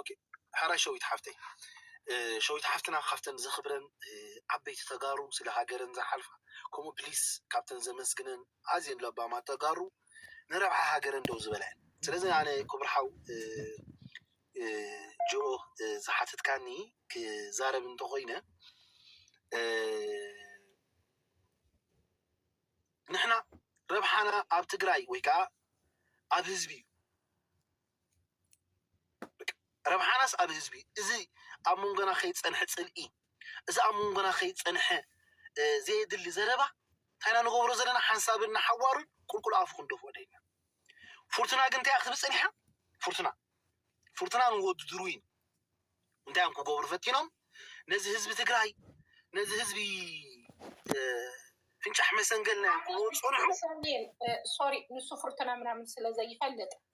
ኦኬ ሐራይ ሸዊት ሓፍተይ ሸዊት ሓፍትና ካብተን ዘኽብረን ዓበይቲ ተጋሩ ስለ ሃገረን ዝሓልፋ ከምኡ ፕሊስ ካብተን ዘመስግነን ኣዝየን ለባማት ተጋሩ ንረብሓ ሃገረን ደው ዝበላ እየን ስለዚ ኣነ ክቡር ሓው ጅኦ ዝሓተትካኒ ክዛረብ እንተኾይነ ንሕና ረብሓና ኣብ ትግራይ ወይ ከዓ ኣብ ህዝቢ እዩ ረብሓናስ ኣብ ህዝቢ እዚ ኣብ መንጎና ከይጸንሐ ጽልኢ እዚ ኣብ መንጎና ከይጸንሐ ዘየድሊ ዘረባ እንታይና ንገብሮ ዘለና ሓንሳብን ንሓዋሩን ቁልቁል ኣፉ ክንደፍኦ ደይና ፍርቱና ግን እንታይ ክትብል ጸኒሓ ፍርቱና ፍርቱና ንወዱ ድሩይን እንታይ እዮም ክገብሩ ፈቲኖም ነዚ ህዝቢ ትግራይ ነዚ ህዝቢ ፍንጫሕ መሰንገልና እዮም ክብሉ ጸንሑ ሶሪ ንሱ ፍርቱና ምናምን ስለ ዘይፈልጥ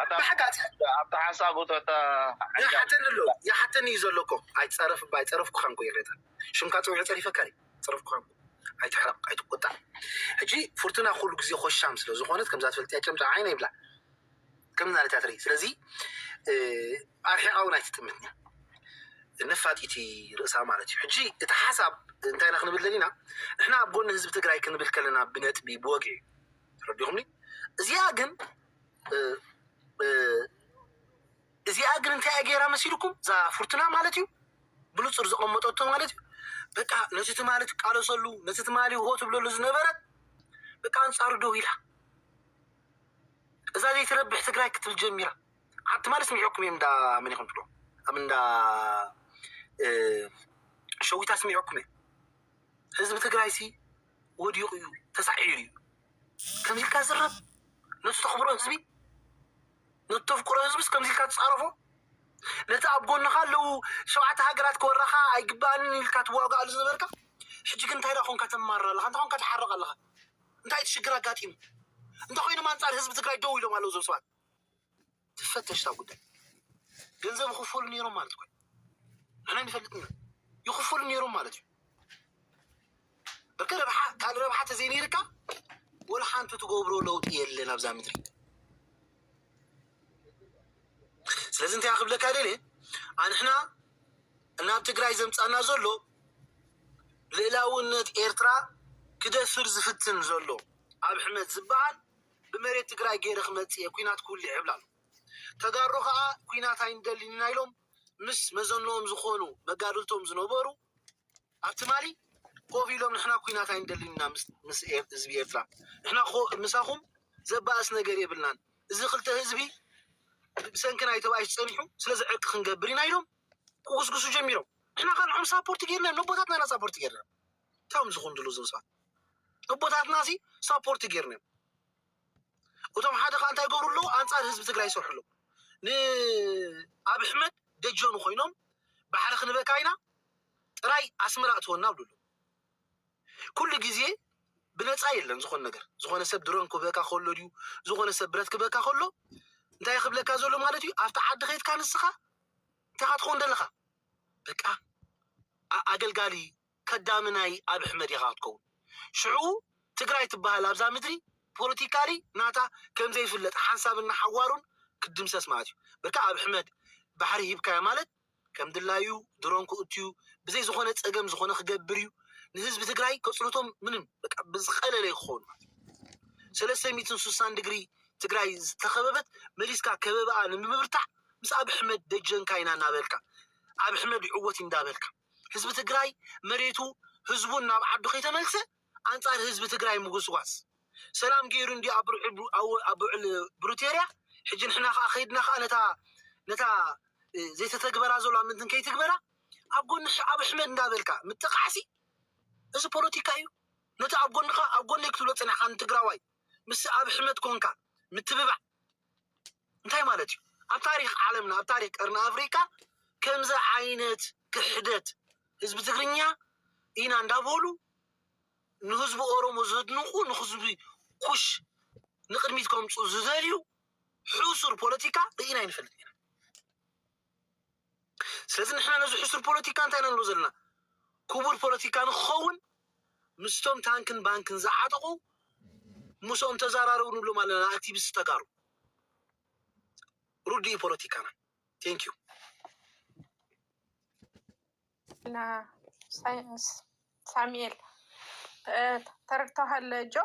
ኣብታ ሓሳቡ ይሓተኒ ኣሎ ይሓተኒ እዩ ዘሎ እኮ ኣይፀረፍኩካን እኮ ይቅሬታ ሽምካ ፀዊዐ ፀሪፈካን እዩ ኣይፀረፍኩካን እኮ ኣይትሕረቅ ኣይትቆጣዕ ሕጂ ፉርቱና ኩሉ ግዜ ኮሻም ስለ ዝኮነት ከምዛ ትፈልጥ እያ ጨምጫ ዓይነ ይብላ ከም ናለት እያ ትርኢ ስለዚ ኣርሒቃ እውን ኣይትጥምትን እያ ነፋጢቲ ርእሳ ማለት እዩ ሕጂ እቲ ሓሳብ እንታይ ኢና ክንብል ደሊና ንሕና ኣብ ጎኒ ህዝቢ ትግራይ ክንብል ከለና ብነጥቢ ብወግዒ ተረዲኹምኒ እዚኣ ግን እዚኣ ግን እንታይ ገይራ መሲልኩም እዛ ፉርትና ማለት እዩ ብንፁር ዘቐመጠቶ ማለት እዩ በቃ ነቲ ትማሊ ትቃለሰሉ ነቲ ትማሊ ሆ ትብለሉ ዝነበረት በቃ ኣንፃሩ ደው ኢላ እዛ ዘይትረብሕ ትግራይ ክትብል ጀሚራ ኣብ ትማሊ ስሚዐኩም እዮም እንዳ መን ይኹን ትብሎ ኣብ እንዳ ሸዊታ ስሚዐኩም እዮም ህዝቢ ትግራይ ሲ ወዲቁ እዩ ተሳዒሩ እዩ ከምዚ ኢልካ ዝረብ ነቲ ተኽብሮ ህዝቢ ነቲ ተፍቅሮ ህዝቢስ ከምዚ ኢልካ ትጻረፎ ነቲ ኣብ ጎንኻ ኣለዉ ሸውዓተ ሃገራት ክወራኻ ኣይግባኣንን ኢልካ ትዋጋኣሉ ዝነበርካ ሕጂ ግን እንታይ ደኣ ኮንካ ተማርር ኣለኻ እንታይ ኮንካ ትሓርቕ ኣለኻ እንታይ እቲ ሽግር ኣጋጢሙ እንታይ ኮይኖም ኣንጻር ህዝቢ ትግራይ ደው ኢሎም ኣለዉ እዞም ሰባት ትፈተሽ እታ ጉዳይ ገንዘብ ይኽፈሉ ነይሮም ማለት እኮ ንሕና ንፈልጥ ኢና ይኽፈሉ ነይሮም ማለት እዩ ብርቂ ረብሓ ካልእ ረብሓ ተዘይነይርካ ወላ ሓንቲ ትገብሮ ለውጢ የለን ኣብዛ ምድሪ ስለዚ እንታይ ክብለካ ደለ ኣንሕና እናብ ትግራይ ዘምፃና ዘሎ ልእላውነት ኤርትራ ክደፍር ዝፍትን ዘሎ ኣብ ሕመት ዝበሃል ብመሬት ትግራይ ገይረ ክመፅእ እየ ኩናት ክውልዕ ይብል ኣሎ። ተጋሩ ከዓ ኩናት ኣይንደልን ኢና ኢሎም ምስ መዘንኦም ዝኾኑ መጋድልቶም ዝነበሩ ኣብ ትማሊ ኮፍ ኢሎም ንሕና ኩናት ኣይንደልን ኢና ምስ ህዝቢ ኤርትራ ንሕና ምሳኹም ዘባእስ ነገር የብልናን እዚ ክልተ ህዝቢ ብሰንኪ ናይ ተባኢሽ ፀኒሑ ስለዚ ዕርቂ ክንገብር ኢና ኢሎም ክጉስጉሱ ጀሚሮም ንሕና ካልዖም ሳፖርት ገይርና ነቦታትና ኢና ሳፖርት ገይርና ቶም ዝኹንድሉ እዞም ሰባት እቦታትና ሲ ሳፖርት ጌርና እዮም እቶም ሓደ ከ እንታይ ገብሩ ኣለዉ ኣንጻር ህዝቢ ትግራይ ይሰርሑ ኣለዉ ንኣብ ኣሕመድ ደጀኑ ኮይኖም ባሕሪ ክንበካ ኢና ጥራይ ኣስመራ እትወና ብሉ ኣለዉ ኩሉ ግዜ ብነፃ የለን ዝኾነ ነገር ዝኾነ ሰብ ድሮን ክበካ ከሎ ድዩ ዝኾነ ሰብ ብረት ክበካ ከሎ እንታይ ክብለካ ዘሎ ማለት እዩ ኣብቲ ዓዲ ከይትካ ንስኻ እንታይ ትኸውን ደለኻ በቃ ኣገልጋሊ ከዳሚ ናይ ኣብ ሕመድ ኢኻ ክትከውን ሽዑ ትግራይ ትባሃል ኣብዛ ምድሪ ፖለቲካሊ ናታ ከምዘይፍለጥ ሓንሳብን ንሓዋሩን ክትድምሰስ ማለት እዩ በቃ ኣብ ሕመድ ባሕሪ ሂብካዮ ማለት ከምድላዩ ድሮን ክእቱዩ ብዘይ ዝኾነ ጸገም ዝኾነ ክገብር እዩ ንህዝቢ ትግራይ ከጽልቶም ምንም በቃ ብዝቀለለ ክኸውን ማለት እዩ ሰለስተ ሚትን ሱሳን ድግሪ ትግራይ ዝተኸበበት መሊስካ ከበባኣ ንምብርታዕ ምስ ኣብ ሕመድ ደጀንካ ኢና እናበልካ ኣብ ሕመድ ይዕወት እንዳበልካ ህዝቢ ትግራይ መሬቱ ህዝቡን ናብ ዓዱ ከይተመልሰ ኣንጻር ህዝቢ ትግራይ ምጉስጓስ ሰላም ገይሩ እንዲ ኣብዑል ብሩቴርያ ሕጂ ንሕና ከዓ ከይድና ከዓ ነታ ነታ ዘይተተግበራ ዘሎ ኣብ ምንትን ከይትግበራ ኣብ ጎኒ ኣብ ኣሕመድ እንዳበልካ ምጥቃዕሲ እዚ ፖለቲካ እዩ ነቲ ኣብ ጎንኻ ኣብ ጎነይ ክትብሎ ፅኒሕካ ንትግራዋይ ምስ ኣብ ኣሕመድ ኮንካ ምትብባዕ እንታይ ማለት እዩ? ኣብ ታሪክ ዓለምና ኣብ ታሪክ ቀርኒ ኣፍሪቃ ከምዚ ዓይነት ክሕደት ህዝቢ ትግርኛ ኢና እንዳበሉ ንህዝቢ ኦሮሞ ዘድንቁ ንህዝቢ ኩሽ ንቅድሚት ከምፁ ዝደልዩ ሕሱር ፖለቲካ ርኢና ኣይንፈልጥን ኢና። ስለዚ ንሕና ነዚ ሕሱር ፖለቲካ እንታይ ኢና ንብሎ ዘለና ክቡር ፖለቲካ ንክኸውን ምስቶም ታንክን ባንክን ዝዓጠቑ ምስኦም ተዛራረቡ ንብሎም ኣለና ንኣክቲቪስት ተጋሩ ርዱኢ ፖለቲካና ቴንክ ዩ ና ሳይንስ ሳሙኤል ተረድተዋል ጆ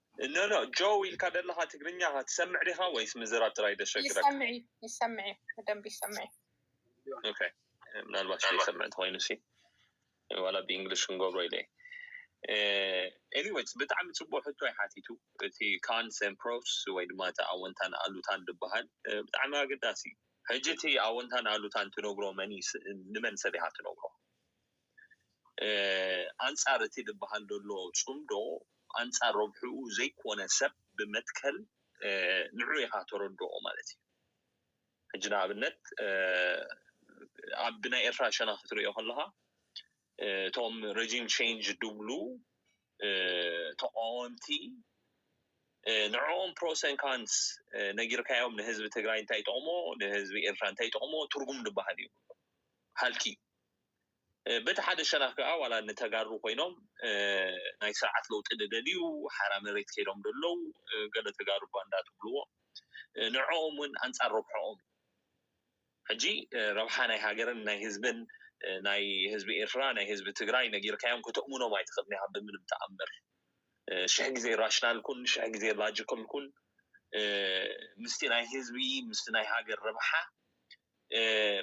No no ጆው ኢልካ ደለካ ትግርኛ ከ ትሰምዕ ዲካ ወይስ ምዝራብ ጥራይ ደሸግረካ። ይሰምዕ እዩ ይሰምዕ እዩ ብደንብ ይሰምዕ እዩ። ኦኬ ምናልባት ዘይሰምዕ እንተኮይኑ ሲ ዋላ ብእንግሊሽ ክንገብሮ ኢለ እየ። ኤኒዌይስ ብጣዕሚ ጽቡቅ ሕቶ እዩ ሓቲቱ እቲ ካንስ ኤንድ ፕሮስ ወይ ድማ እቲ ኣወንታን ኣሉታን ዝበሃል ብጣዕሚ ኣገዳሲ እዩ። ሕጂ እቲ ኣወንታን ኣሉታን ትነግሮ መን እዩ ንመን ሰብ ኢካ ትነግሮ? ኣንጻር እቲ ድበሃል ደሎ ጽምዶ ኣንጻር ረብሕኡ ዘይኮነ ሰብ ብመትከል ንዑ ኢኻ ተረድኦ ማለት እዩ ሕጂ ንኣብነት ኣብ ብናይ ኤርትራ ሸና ክትርእዮ ከለኻ እቶም ረጂም ቼንጅ ድብሉ ተቃወምቲ ንዕኦም ፕሮሰን ካንስ ነጊርካዮም ንህዝቢ ትግራይ እንታይ ጠቕሞ ንህዝቢ ኤርትራ እንታይ ጠቕሞ ትርጉም ድበሃል እዩ ሃልኪ እዩ በቲ ሓደ ሸነኽ ከኣ ዋላ ንተጋሩ ኮይኖም ናይ ስርዓት ለውጢ ድደልዩ ሓራ መሬት ከይዶም ደለዉ ገለ ተጋሩ ባንዳ ትብልዎ ንዕኦም ውን ኣንጻር ረብሕኦም እዩ ሕጂ ረብሓ ናይ ሃገርን ናይ ህዝብን ናይ ህዝቢ ኤርትራ ናይ ህዝቢ ትግራይ ነጊርካዮም ከተእምኖም ኣይትኽእልን ኢኻ ብምንም ተኣምር ሽሕ ግዜ ራሽናል ኩን ሽሕ ግዜ ላጂካል ኩን ምስቲ ናይ ህዝቢ ምስቲ ናይ ሃገር ረብሓ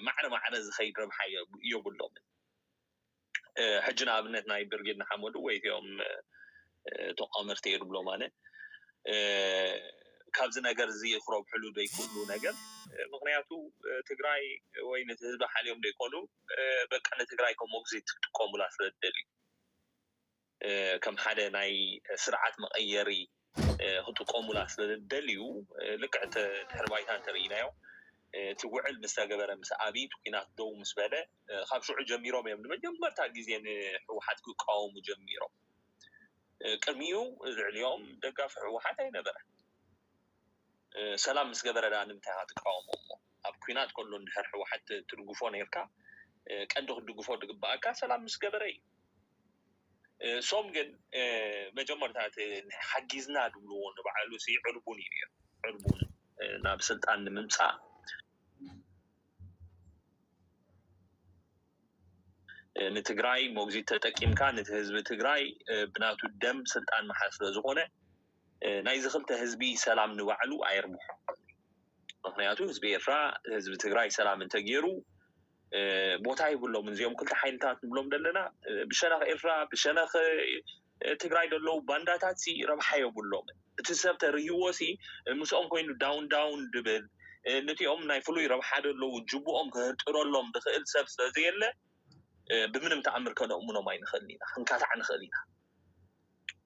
ማዕረ ማዕረ ዝኸይድ ረብሓ ዮብሎምን። ሕጂ ንኣብነት ናይ ብርጌድ ንሓመዱ ወይ እቲኦም ተቋመርቲ እየ ድብሎም ኣነ ካብዚ ነገር እዚ ክረብሕሉ ዘይክእሉ ነገር ምክንያቱ ትግራይ ወይ ነቲ ህዝቢ ሓልዮም ዘይኮኑ በቃ ንትግራይ ከም ሞግዚት ክጥቀሙላ ስለ ዝደልዩ ከም ሓደ ናይ ስርዓት መቐየሪ ክጥቀሙላ ስለዝደልዩ ልክዕ ድሕሪ ባይታ እንተርኢናዮ እቲ ውዕል ምስ ተገበረ ምስ ኣብይ እቲ ኩናት ደው ምስ በለ ካብ ሽዑ ጀሚሮም እዮም ንመጀመርታ ግዜ ንሕወሓት ክቃወሙ ጀሚሮም። ቅድሚኡ ልዕሊኦም ደጋፊ ሕወሓት ኣይነበረን። ሰላም ምስ ገበረ ደኣ ንምንታይ ኢኻ ትቃወሞ እሞ ኣብ ኩናት ከሎ እንድሕር ሕወሓት ትድግፎ ነይርካ ቀንዲ ክትድግፎ ዝግበኣካ ሰላም ምስ ገበረ እዩ። እሶም ግን መጀመርታ እቲ ሓጊዝና ድብልዎ ንባዕሉ ሲ ዕርቡን እዩ ነይሩ ዕርቡን ናብ ስልጣን ንምምፃእ ንትግራይ ሞግዚት ተጠቂምካ ነቲ ህዝቢ ትግራይ ብናቱ ደም ስልጣን መሓዝ ስለ ዝኾነ ናይዚ ክልተ ህዝቢ ሰላም ንባዕሉ ኣየርብሖ ምክንያቱ ህዝቢ ኤርትራ ህዝቢ ትግራይ ሰላም እንተገይሩ ቦታ ይብሎምን እዚኦም ክልተ ሓይልታት ንብሎም ዘለና ብሸነኽ ኤርትራ ብሸነኽ ትግራይ ዘለዉ ባንዳታት ሲ ረብሓ የብሎም እቲ ሰብ ተርህዎ ሲ ምስኦም ኮይኑ ዳውን ዳውን ድብል ነቲኦም ናይ ፍሉይ ረብሓ ዘለዉ ጅቡኦም ክህርጥረሎም ዝኽእል ሰብ ስለዘየለ ብምንም ተኣምር ከነእምኖም ኣይንኽእል ኢና ክንካታዕ ንኽእል ኢና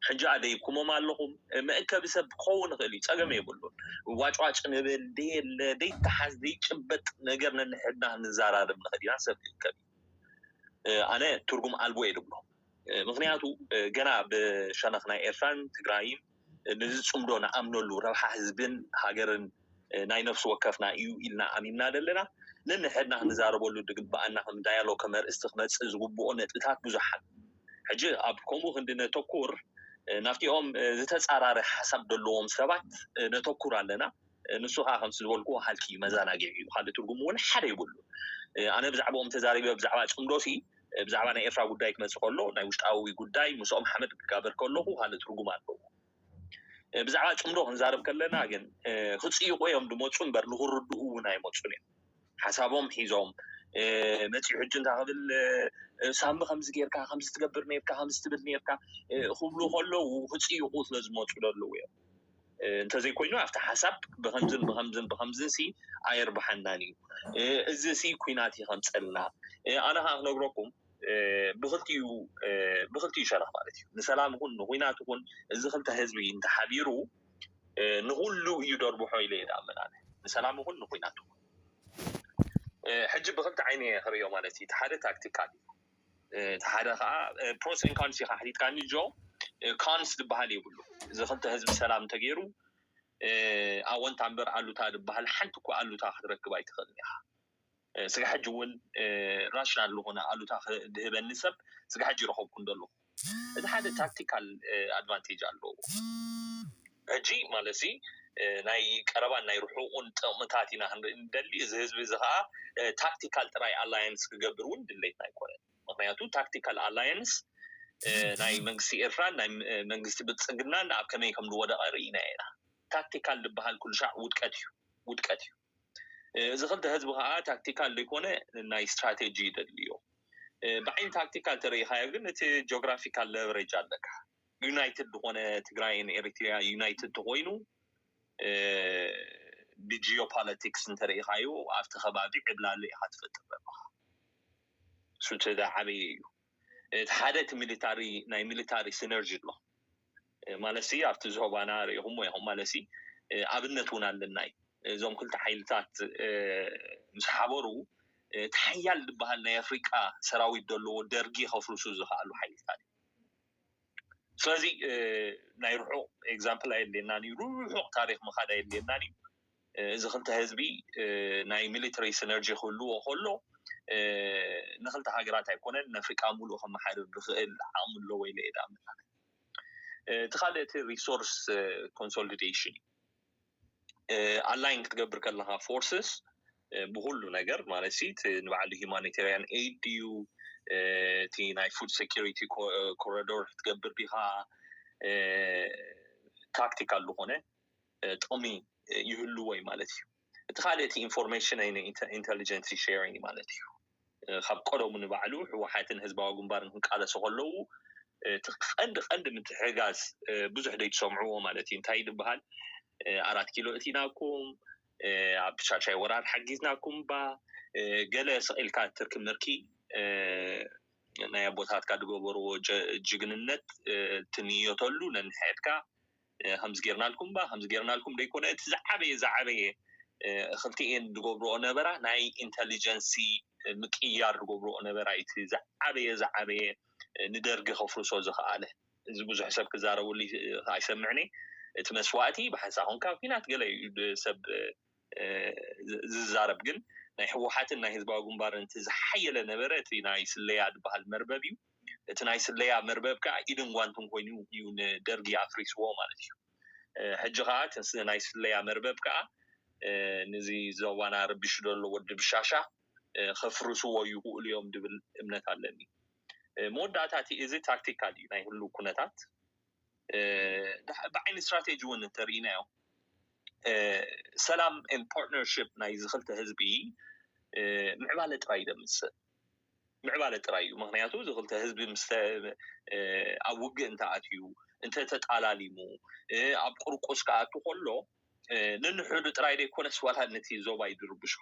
ሕጂ ኣደይብኩሞም ኣለኹም መእከቢ ሰብ ክኸውን ይኽእል እዩ ጸገም የብሉን ዋጭዋጭ ንብል ደየለ ደይተሓዝ ደይጭበጥ ነገር ነንሕድና ክንዛራረብ ንኽእል ኢና ሰብ ክእከብ እዩ ኣነ ትርጉም ኣልቦ እየ ድብሎ ምክንያቱ ገና ብሸነኽ ናይ ኤርትራን ትግራይን ንዝጽምዶ ንኣምነሉ ረብሓ ህዝብን ሃገርን ናይ ነፍሲ ወከፍና እዩ ኢልና ኣሚንና ዘለና ነንሕድና ክንዛረበሉ ዝግበኣና ከም ዳያሎግ ከም ኣርእስቲ ክመጽእ ዝግብኦ ነጥብታት ብዙሓት ሕጂ ኣብ ከምኡ ክንዲ ነተኩር ናብቲኦም ዝተጻራሪ ሓሳብ ዘለዎም ሰባት ነተኩር ኣለና ንሱ ከዓ ከምቲ ዝበልክዎ ሃልኪ እዩ መዘናግዒ እዩ ካልእ ትርጉም እውን ሓደ ይብሉ ኣነ ብዛዕባኦም ተዛሪበ ብዛዕባ ፅምዶሲ ብዛዕባ ናይ ኤርትራ ጉዳይ ክመፅእ ከሎ ናይ ውሽጣዊ ጉዳይ ምስኦም ሓመድ ክጋበር ከለኹ ካልእ ትርጉም ኣለዎ ብዛዕባ ጽምዶ ክንዛረብ ከለና ግን ክጽይቑ እዮም ዝመጹ እምበር ንኽርድኡ እውን ኣይመጹን እዮም ሓሳቦም ሒዞም መጺኡ ሕጂ እንታ ክብል ሳሚ ከምዚ ጌርካ ከምዚ ትገብር ነርካ ከምዚ ትብል ነርካ ክብሉ ከለዉ ክጽይቑ ስለ ዝመጹ ዘለዉ እዮም እንተዘይኮይኑ ኣብቲ ሓሳብ ብከምዝን ብከምዝን ብከምዝን ሲ ኣየርባሓናን እዩ እዚ ሲ ኩናት ይከምፀልና ኣነ ከዓ ክነግረኩም ብክልቲኡ ብክልቲኡ ሸነኽ ማለት እዩ ንሰላም ይኹን ንኩናት ይኹን እዚ ክልተ ህዝቢ እንተሓቢሩ ንኩሉ እዩ ደርብሖ ኢለ ይዳምን ኣነ ንሰላም ይኹን ንኩናት ይኹን ሕጂ ብክልቲ ዓይነ እየ ክርእዮ ማለት እዩ እቲ ሓደ ታክቲካል እዩ እቲ ሓደ ከዓ ፕሮስን ኮንስ ኢካ ሓቲትካኒ ጆ ኮንስ ዝበሃል የብሉ እዚ ክልተ ህዝቢ ሰላም እንተገይሩ ኣወንታ እምበር ኣሉታ ዝበሃል ሓንቲ እኳ ኣሉታ ክትረክብ ኣይትኽእልን ኢኻ ስጋዕ ሕጂ እውን ራሽናል ዝኾነ ኣሉታ ድህበኒ ሰብ ስጋዕ ሕጂ ረኸብኩ እንዶ ኣለኹ። እቲ ሓደ ታክቲካል ኣድቫንቴጅ ኣለዎ። ሕጂ ማለት እዚ ናይ ቀረባን ናይ ርሑቑን ጥቕምታት ኢና ክንርኢ ንደሊ። እዚ ህዝቢ እዚ ከኣ ታክቲካል ጥራይ ኣላየንስ ክገብር እውን ድሌትና ኣይኮነን። ምኽንያቱ ታክቲካል ኣላየንስ ናይ መንግስቲ ኤርትራን ናይ መንግስቲ ብልጽግናን ኣብ ከመይ ከም ዝወደቐ ርኢናዮ ኢና። ታክቲካል ዝበሃል ኩሉሻዕ ውድቀት እዩ። ውድቀት እዩ። እዚ ክልተ ህዝቢ ከኣ ታክቲካል ዘይኮነ ናይ ስትራተጂ እዩ ዘድልዮ። ብዓይኒ ታክቲካል ተረኢኻዮ ግን እቲ ጆግራፊካል ለቨሬጅ ኣለካ። ዩናይትድ ዝኾነ ትግራይን ኤሪትሪያ ዩናይትድ ተኾይኑ ብጂኦ ፓለቲክስ እንተረኢኻዮ ኣብቲ ከባቢ ዕብላሊ ኢኻ ትፈጥር ዘለኻ። እሱ እቲ ዝዓበየ እዩ። እቲ ሓደ እቲ ሚሊታሪ ናይ ሚሊታሪ ሲነርጂ ኣሎ። ማለትሲ ኣብቲ ዝሆባና ርኢኹሞ ኢኹም ማለትሲ ኣብነት ውን ኣለና እዩ እዞም ክልተ ሓይልታት ምስ ሓበሩ እቲ ሓያል ድበሃል ናይ ኣፍሪቃ ሰራዊት ደለዎ ደርጊ ከፍርሱ ዝኸኣሉ ሓይልታት እዩ ስለዚ ናይ ርሑቕ ኤግዛምፕል ኣየድልየናን እዩ ርሑቕ ታሪኽ ምኻድ ኣየድልየናን እዩ እዚ ክልተ ህዝቢ ናይ ሚሊተሪ ሲነርጂ ክህልዎ ከሎ ንክልተ ሃገራት ኣይኮነን ንኣፍሪቃ ሙሉእ ከመሓድር ዝኽእል ዓቕሚ ኣለዎ ኢለ እየ ድኣምን ኣነ እቲ ካልእ እቲ ሪሶርስ ኮንሶሊደሽን እዩ ኣላይን ክትገብር ከለካ ፎርስስ ብኩሉ ነገር ማለት ሲ እቲ ንባዕሉ ሂማኒተርያን ኤድ ድዩ እቲ ናይ ፉድ ሰኪሪቲ ኮረዶር ክትገብር ዲካ ታክቲካል ዝኮነ ጥቅሚ ይህልዎ እዩ ማለት እዩ እቲ ካልእ እቲ ኢንፎርሜሽን ኢንተሊጀንሲ ሸሪንግ ማለት እዩ። ካብ ቀደሙ ንባዕሉ ህወሓትን ህዝባዊ ግንባርን ክንቃለሱ ከለዉ እቲ ቀንዲ ቀንዲ ምትሕጋዝ ብዙሕ ዘይትሰምዕዎ ማለት እዩ እንታይ ድበሃል ኣራት ኪሎ እቲናኩም ኣብ ሻሻይ ወራር ሓጊዝናኩም ባ ገለ ስቂልካ ትርኪ ምርኪ ናይ ኣቦታትካ ዝገበርዎ ጅግንነት ትንየተሉ ነንሕድካ ከምዚ ጌርናልኩም እባ ከምዚ ጌርናልኩም ዘይኮነ እቲ ዝዓበየ ዝዓበየ ክልቲኤን ዝገብርኦ ነበራ ናይ ኢንተሊጀንሲ ምቅይያር ዝገብርኦ ነበራ እዩ እቲ ዝዓበየ ዝዓበየ ንደርጊ ከፍርሶ ዝኸኣለ እዚ ብዙሕ ሰብ ክዛረበሉ ኣይሰምዕን እየ እቲ መስዋእቲ ብሓንሳእ ኮንካ ኣብ ኲናት ገለ እዩ ሰብ ዝዛረብ ግን ናይ ህወሓትን ናይ ህዝባዊ ግንባርን እቲ ዝሓየለ ነበረ እቲ ናይ ስለያ ዝበሃል መርበብ እዩ። እቲ ናይ ስለያ መርበብ ከዓ ኢድን ጓንትን ኮይኑ እዩ ንደርጊ ኣፍሪስዎ ማለት እዩ። ሕጂ ከዓ እቲ ናይ ስለያ መርበብ ከዓ ንዚ ዞባና ረቢሹ ዘሎ ወዲ ብሻሻ ከፍርስዎ ይኽእሉ እዮም ዝብል እምነት ኣለኒ። መወዳእታ እቲ እዚ ታክቲካል እዩ ናይ ህሉው ኩነታት። ብዓይኒ ስትራቴጂ እውን እንተሪኢናዮ ሰላም ን ፓርትነርሽፕ ናይ እዚ ክልተ ህዝቢ ምዕባለ ጥራይ እዩ ዘምፅእ ምዕባለ ጥራይ እዩ ምክንያቱ እዚ ክልተ ህዝቢ ምስ ኣብ ውግእ እንተኣትዩ እንተተጣላሊሙ ኣብ ቁርቁስ ክኣቱ ከሎ ንንሕዱ ጥራይ ዘይኮነስ ዋላ ነቲ ዞባ እዩ ዝርብሾ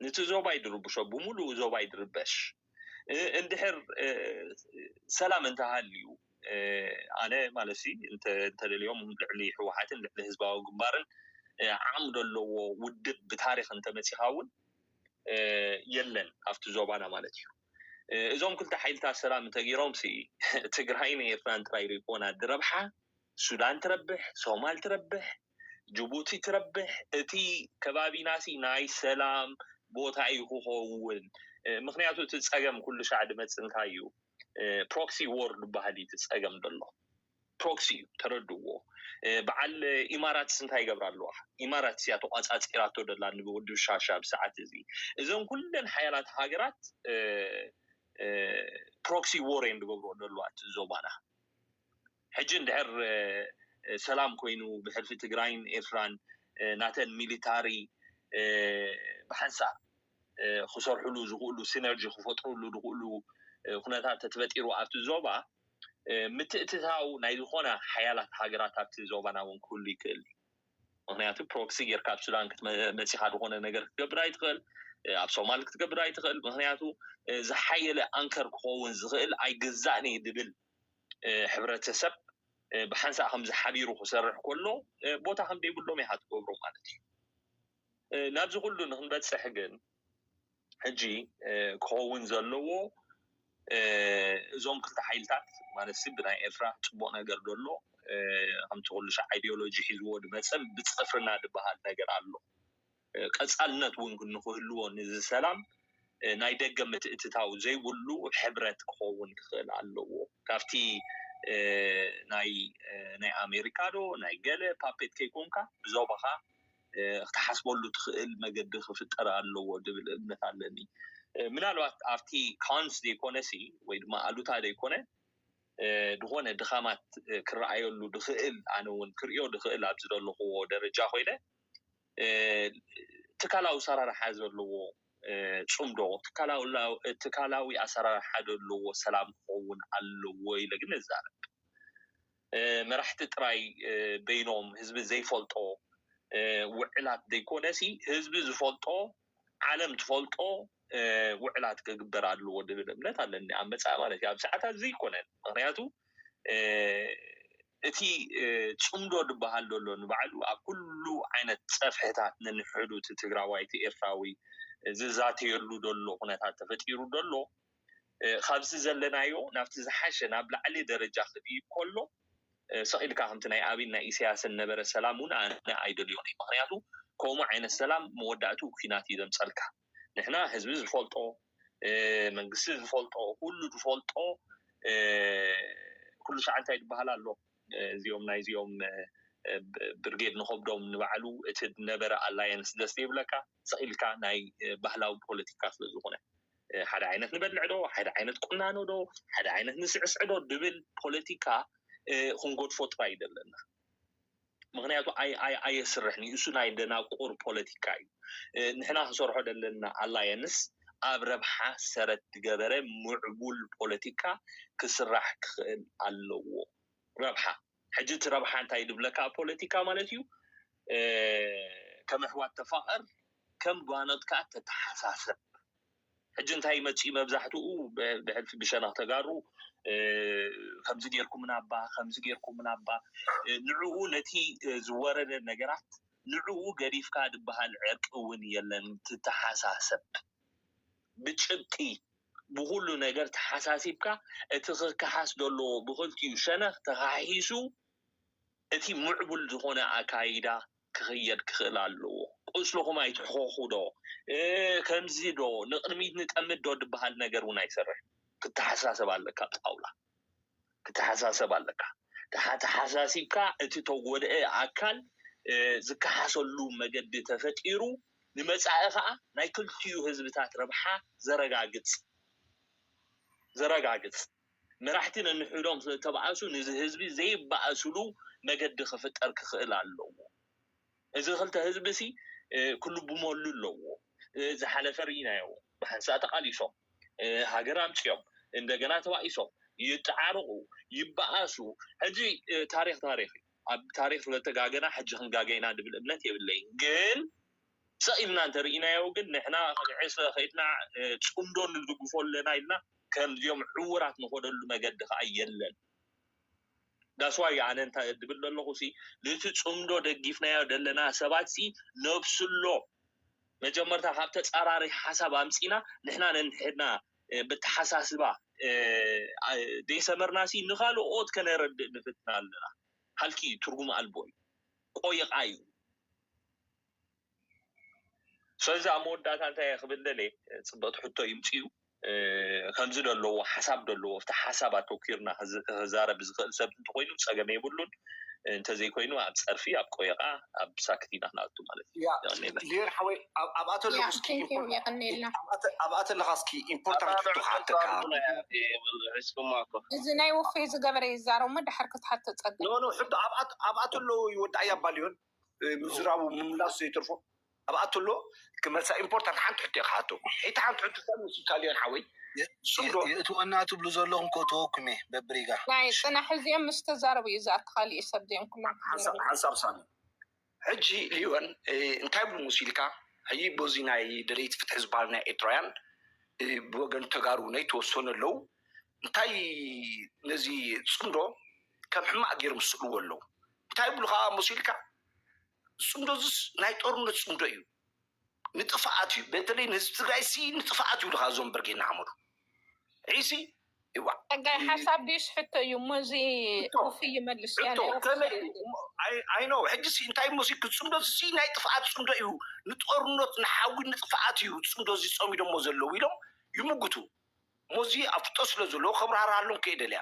ንቲ ዞባይ ድርብሾ ብምሉኡ ዞባይ ድርበሽ እንድሕር ሰላም እንተሃልዩ ኣነ ማለትሲ እንተደልዮም ልዕሊ ሕወሓትን ልዕሊ ህዝባዊ ግንባርን ዓቕሚ ደለዎ ውድብ ብታሪኽ እንተመፂኻ እውን የለን ኣብቲ ዞባና ማለት እዩ እዞም ክልተ ሓይልታት ሰላም እንተገይሮም ሲ ትግራይን ኤርትራን ጥራይ ዶ ይኮና ድረብሓ ሱዳን ትረብሕ ሶማል ትረብሕ ጅቡቲ ትረብሕ እቲ ከባቢናሲ ናይ ሰላም ቦታ እዩ ክኸውን ምክንያቱ እቲ ፀገም ኩሉ ሻዕ ድመፅእ እንታይ እዩ ፕሮክሲ ዎር ድበሃል እዩ እቲ ፀገም ዘሎ ፕሮክሲ እዩ ተረድዎ በዓል ኢማራትስ እንታይ ይገብራ ኣለዋ ኢማራትስ እያ ተቋፃፂራቶ ደላ ንውድብ ሻሻ ኣብ ሰዓት እዚ እዘን ኩለን ሓያላት ሃገራት ፕሮክሲ ዎር እየን ድገብርኦ ዘለዋ እቲ ዞባና ሕጂ እንድሕር ሰላም ኮይኑ ብሕልፊ ትግራይን ኤርትራን ናተን ሚሊታሪ ብሓንሳእ ክሰርሕሉ ዝኽእሉ ሲነርጂ ክፈጥርሉ ዝኽእሉ ኩነታት ተትፈጢሩ ኣብቲ ዞባ ምትእትታው ናይ ዝኾና ሓያላት ሃገራት ኣብቲ ዞባና እውን ክህሉ ይክእል እዩ። ምክንያቱ ፕሮክሲ ጌርካ ኣብ ሱዳን መጺኻ ዝኾነ ነገር ክትገብር ኣይትኽእል፣ ኣብ ሶማል ክትገብር ኣይትኽእል፣ ምክንያቱ ዝሓየለ ኣንከር ክኸውን ዝኽእል ኣይግዛእን'የ ዝብል ሕብረተሰብ ብሓንሳእ ከምዚ ሓቢሩ ክሰርሕ ከሎ ቦታ ከም ዘይብሎም ኢኻ ትገብሮ ማለት እዩ። ናብዚ ኩሉ ንክንበጽሕ ግን ሕጂ ክኸውን ዘለዎ እዞም ክልተ ሓይልታት ማለት ብናይ ኤርትራ ጽቡቕ ነገር ደሎ ከምቲ ኩሉ ሻዕ ኣይድዮሎጂ ሒዝዎ ድመጸ ብጽፍርና ድበሃል ነገር ኣሎ። ቀጻልነት እውን ንክህልዎ ንዝሰላም ናይ ደገ ምትእትታው ዘይብሉ ሕብረት ክኸውን ክኽእል ኣለዎ። ካብቲ ናይ ናይ ኣሜሪካ ዶ ናይ ገለ ፓፔት ከይኮንካ ብዞባኻ ክትሓስበሉ ትኽእል መገዲ ክፍጠር ኣለዎ ዝብል እምነት ኣለኒ። ምናልባት ኣብቲ cons ዘይኮነሲ ወይ ድማ ኣሉታ ዘይኮነ ዝኾነ ድኻማት ክረኣየሉ ዝኽእል ኣነ እውን ክርእዮ ዝኽእል ኣብ ዝደለኹዎ ደረጃ ኮይነ ትካላዊ ኣሰራርሓ ዘለዎ ፅምዶ ትካላዊ ኣሰራርሓ ዘለዎ ሰላም ክኸውን ኣለዎ ኢለ ግን እዛረብ። መራሕቲ ጥራይ በይኖም ህዝቢ ዘይፈልጦ ውዕላት ዘይኮነሲ ህዝቢ ዝፈልጦ ዓለም ትፈልጦ ውዕላት ክግበር ኣለዎ ዝብል እምነት ኣለኒ ኣብ መጻኢ ማለት እዩ ኣብ ሰዓታት እዚ ኣይኮነን ምክንያቱ እቲ ጽምዶ ዝበሃል ዘሎ ንባዕሉ ኣብ ኩሉ ዓይነት ጸፍሕታት ነንሕዱ እቲ ትግራዋይ እቲ ኤርትራዊ ዝዛተየሉ ዘሎ ኩነታት ተፈጢሩ ዘሎ ካብዚ ዘለናዮ ናብቲ ዝሓሸ ናብ ላዕሊ ደረጃ ክድይብ ከሎ ሰቂልካ ከምቲ ናይ ኣብይን ናይ ኢሰያስን ነበረ ሰላም ውን ኣነ ኣይደልዮን እየ ምክንያቱ ከምኡ ዓይነት ሰላም መወዳእትኡ ኩናት እዩ ዘምጸልካ ንሕና ህዝቢ ዝፈልጦ መንግስቲ ዝፈልጦ ኩሉ ዝፈልጦ ኩሉ ሻዕ እንታይ ዝበሃል ኣሎ እዚኦም ናይዚኦም ብርጌድ ንከብዶም ንባዕሉ እቲ ነበረ ኣላየንስ ደስ ዘይብለካ ሰቂልካ ናይ ባህላዊ ፖለቲካ ስለ ዝኮነ ሓደ ዓይነት ንበልዕ ዶ ሓደ ዓይነት ቁናኖ ዶ ሓደ ዓይነት ንስዕስዕ ዶ ድብል ፖለቲካ ክንጎድፎ ጥራይ እዩ ዘለና ምክንያቱ ኣየስርሕን እዩ እሱ ናይ ደናቁር ፖለቲካ እዩ ንሕና ክንሰርሖ ዘለና ኣላየንስ ኣብ ረብሓ ሰረት ዝገበረ ምዕቡል ፖለቲካ ክስራሕ ክኽእል ኣለዎ ረብሓ ሕጂ እቲ ረብሓ እንታይ ድብለካ ኣብ ፖለቲካ ማለት እዩ ከም ኣሕዋት ተፋቐር ከም ጓኖት ከኣ ተተሓሳሰብ ሕጂ እንታይ መጺኡ መብዛሕትኡ ብሕልፊ ብሸነኽ ተጋሩ ከምዚ ጌርኩምና እባ ከምዚ ጌርኩምና እባ ንዕኡ ነቲ ዝወረደ ነገራት ንዕኡ ገዲፍካ ድበሃል ዕርቂ እውን የለን ትተሓሳሰብ ብጭብጢ ብኹሉ ነገር ተሓሳሲብካ እቲ ክከሓስ ዘለዎ ብኽልቲኡ ሸነኽ ተኻሒሱ እቲ ምዕቡል ዝኾነ ኣካይዳ ክኽየድ ክኽእል ኣለዎ። ቁስልኹም ኣይትሕኸኹ ዶ፣ ከምዚ ዶ፣ ንቕድሚት ንጠምት ዶ ድበሃል ነገር እውን ኣይሰርሕን። ክተሓሳሰብ ኣለካ ጣውላ። ክትሓሳሰብ ኣለካ ተሓተሓሳሲብካ እቲ ተጎድአ ኣካል ዝከሓሰሉ መገዲ ተፈጢሩ ንመፃኢ ከዓ ናይ ክልቲኡ ህዝብታት ረብሓ ዘረጋግፅ ዘረጋግፅ መራሕቲ ነንሕዶም ስለተባኣሱ ንዚ ህዝቢ ዘይባኣስሉ መገዲ ክፍጠር ክክእል ኣለዎ እዚ ክልተ ህዝቢ'ሲ ክልብመሉ ኣለዎ። ዝሓለፈ ርኢናዮ፣ ብሓንሳእ ተቓሊሶም፣ ሃገር ኣምጺኦም፣ እንደገና ተባኢሶም፣ ይጠዓረቑ፣ ይበኣሱ፣ ሕጂ ታሪኽ ታሪኽ እዩ። ኣብ ታሪኽ ስለተጋገና ሕጂ ክንጋገ ኢና ዝብል እምነት የብለይን። ግን ሰቕ ኢልና እንተርኢናዮ ግን ንሕና ከም ዕስለ ከይድና ጽምዶ ንድግፎ ኣለና ኢልና ከምዚኦም ዕዉራት ንኸደሉ መገዲ ከኣ የለን። That's why ኣነ እንታይ ዝብል ዘለኹሲ ነቲ ጽምዶ ደጊፍናዮ ዘለና ሰባትሲ ነብስሎ መጀመርታ ካብ ተጻራሪ ሓሳብ ኣምጺእና ንሕና ነንሕድና በተሓሳስባ ዘይሰመርናሲ ንኻልኦት ከነረድእ ንፍትን ኣለና ሃልኪ እዩ ትርጉም ኣልቦ እዩ ቆይቓ እዩ። ስለዚ ኣብ መወዳእታ እንታይ እየ ክብል ደልየ ፅብቕቲ ሕቶ ይምፅኡ ከምዚ ዶ ኣለዎ ሓሳብ ዶ ኣለዎ ኣብቲ ሓሳብ ኣተኲርና ክዛረብ ዝኽእል ሰብ እንተኾይኑ ፀገም የብሉን እንተዘይኮይኑ ኣብ ፀርፊ ኣብ ቆየቛ ኣብ ሳክት ኢና ክንኣቱ ማለት እዩ። የቐኔልና ሊዮን ሓወይ ኣብ- ኣብ ኣቶ ኣለኹ እስኪ Thank you የቀኔልና ኣብ ኣቶ- ኣብ ኣቶ ኣለኻ እስኪ ኢምፖርታንት ሕቶ ክሓተካ ሒዝኩማ እኮ እዚ ናይ ውፉይ ዝገበረ ይዛረብ እሞ ድሓር ክትሓቶ ጸገም ኖ ኖ ሕቶ ኣብ ኣቶ- ኣብ ኣቶ ኣለዉ ይወዳእ እያ እባ ሊዮን ምዝራቡ ምምላሱ ዘይተርፎ ኣብኣቶ ኣሎ ክመልሳ ኢምፖርታንት ሓንቲ ሕቶ ኢየ ክሓቶ ሒቲ ሓንቲ ሕቶ ታይ መሲልካ ሊዮን ሓወይ ስቅ ዶ የእትወና ትብሉ ዘለኩም ከእትወኩም ኢየ በብሪጋ ናይ ጽናሕ እዚኦም ምስ ተዛረቡ ኢዩ ዝኣቲ ካሊእ ሰብ ዘዮም ኩሎም ሓንሳብ ክዛረቡ ሓንሳብ ሳሚ ሕጂ ሊዮን እንታይ ብ ሙሲልካ ሕጂ በዚ ናይ ደለይቲ ፍትሒ ዝባሃሉ ናይ ኤርትራውያን ብወገን ተጋሩ ናይ ተወሰኑ ኣለዉ እንታይ ነዚ ጽምዶ ከም ሕማቅ ገይሮም ዝስእልዎ ኣለዉ እንታይ ይብሉኻ መሲልካ ዝፅምዶዝስ ናይ ጦርነት ፅምዶ እዩ ንጥፍኣት እዩ በተለይ ንህዝቢ ትግራይ ሲ ንጥፍኣት ይብሉኻ እዞም ብርጌድ ንሓመዱ ዒሲ ይዋ ጸጋይ ሓሳብ ድዩስ ሕቶ እዩ እሞ እዚ ውፊ ይመልስ እያ ሕቶ ናይ ውፊ ከመይ እዩ? እሞ ኣይ- ኣይኖ ሕጂ ሲ እንታይ መሲልክ ፅምዶ እዚ ናይ ጥፍኣት ፅምዶ እዩ ንጦርነት ንሓዊ ንጥፍኣት እዩ ፅምዶ እዚ ፀሚዶሞ ዘለዉ ኢሎም ይምጉቱ እሞ እዚ ኣፍልጦ ስለ ዘለዎ ከብራርሃሎም ከይደልያ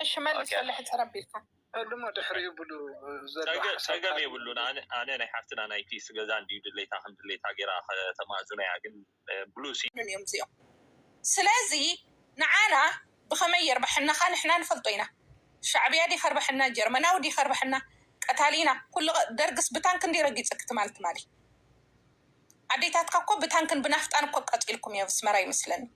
እሺ መልስ ወለ ሕፅር ኣቢልካ ዕልሞ ድሕሪ ይብሉ ፀገም የብሉን ኣነ ናይ ሓፍትና ናይ ፒስ ገዛ እንድዩ ድሌታ ከም ድሌታ ገይራ ከተማእዝኖ እያ ግን ብሉ እዮም እዚኦም ስለዚ ንዓና ብከመይ የርበሐናካ ንሕና ንፈልጦ ኢና ሻዕብያ ድዩ ከርበሐና ጀርመናዊ ድዩ ከርበሐና ቀታሊና ኩሉ ደርግስ ብታንክ እንድዩ ረጊፅኪ ትማሊ ትማሊ ኣዴታትካ እኮ ብታንክን ብናፍጣን እኮ ቀፂልኩም እዮ ኣስመራ ይመስለኒ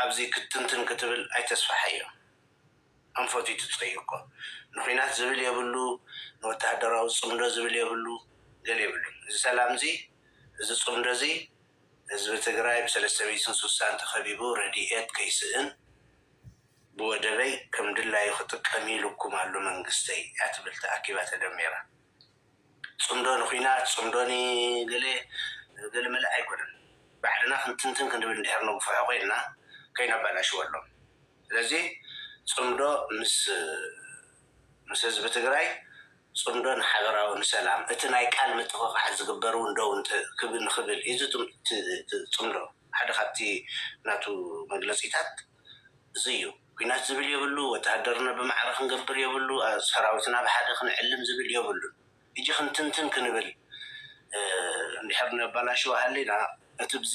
ኣብዚ ክትትንትን ክትብል ኣይተስፋሕዮ ኣንፈቱ ይትጸዩ እኮ ንኩናት ዝብል የብሉ ንወተሃደራዊ ጽምዶ ዝብል የብሉ ገል የብሉን እዚ ሰላምዚ እዚ ጽምዶዚ ህዝቢ ትግራይ ብሰለስተሚእትን ሱሳን ተከቢቡ ረዲኤት ከይስእን ብወደበይ ከምድላዩ ክጥቀም ኢሉኩም ኣሎ መንግስተይ እያትብል ተኣኪባ ተደሚራ ጽምዶ ንኩናት ጽምዶ ንገለ ገለ መለ ኣይኮነን ባዕልና ክንትንትን ክንብል እንድሕር ነጉፍሖ ኮይንና ከይነባላሽወሎም ስለዚ ጽምዶ ምስ ምስ ህዝቢ ትግራይ ጽምዶ ንሓበራዊ ንሰላም እቲ ናይ ቃል ምጥቕቓሕ ዝግበር ውን ደው እንተ ክብል ንክብል ኢዚ ጽምዶ ሓደ ካብቲ ናቱ መግለጺታት እዙይ እዩ ኩናት ዝብል የብሉ ወተሃደርና ብማዕረ ክንገብር የብሉ ሰራዊትና ብሓደ ክንዕልም ዝብል የብሉን ህጂ ክንትንትን ክንብል እንድሕር ነባላሽው ሃሊና እቲ ብዚ